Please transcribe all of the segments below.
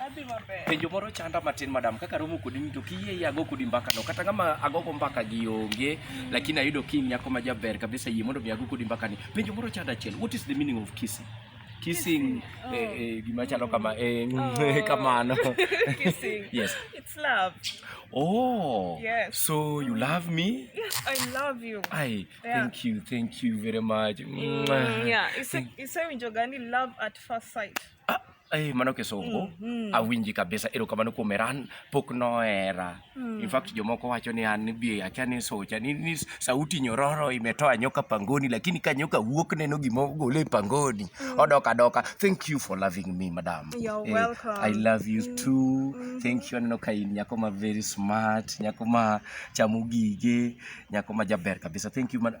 Adhi maber. Penjo moro chanda matin madam, kaka romo kodi to kiyie yago kodi mbaka no kata kama agogo mbaka gi onge mm. lakini ayudo ki nyako ma jaber kabisa yie mondo mi ago kodi mbaka ni. Penjo moro chanda achiel, what is the meaning of kissing? Kissing, oh. eh, eh, gima chalo kama eh, mm, oh. Eh, kamano. kissing. yes. It's love. Oh. Yes. So you love me? Yes, I love you. I yeah. thank you, thank you very much. Mm, yeah. It's a, it's a gani love at first sight. Ah. Hey, eh, mano kisungu mm, mm. awinji kabisa erokamano kuom eran pok nohera mm. in fact jomoko wacho ni an bi akia ni socha ni, ni sauti nyororo imetoa nyoka pangoni lakini ka nyoka wuok neno gima ogole e pangoni mm. odok adoka thank you for loving me madam You're eh, welcome. i love you mm. too mm. thank you aneno ka in nyako ma very smart nyako ma chamo gige nyako ma jaber kabisa thank you madam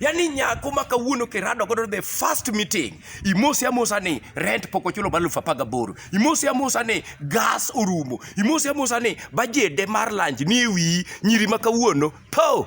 Yaani nyako ma kawuono kirado godo the first meeting imosi amosa ni rent pok ochulo mar elfu apar gaboro imosi amosa ni gas orumo imosi amosa ni bajede mar lunch ni ewiyi nyiri ma kawuono po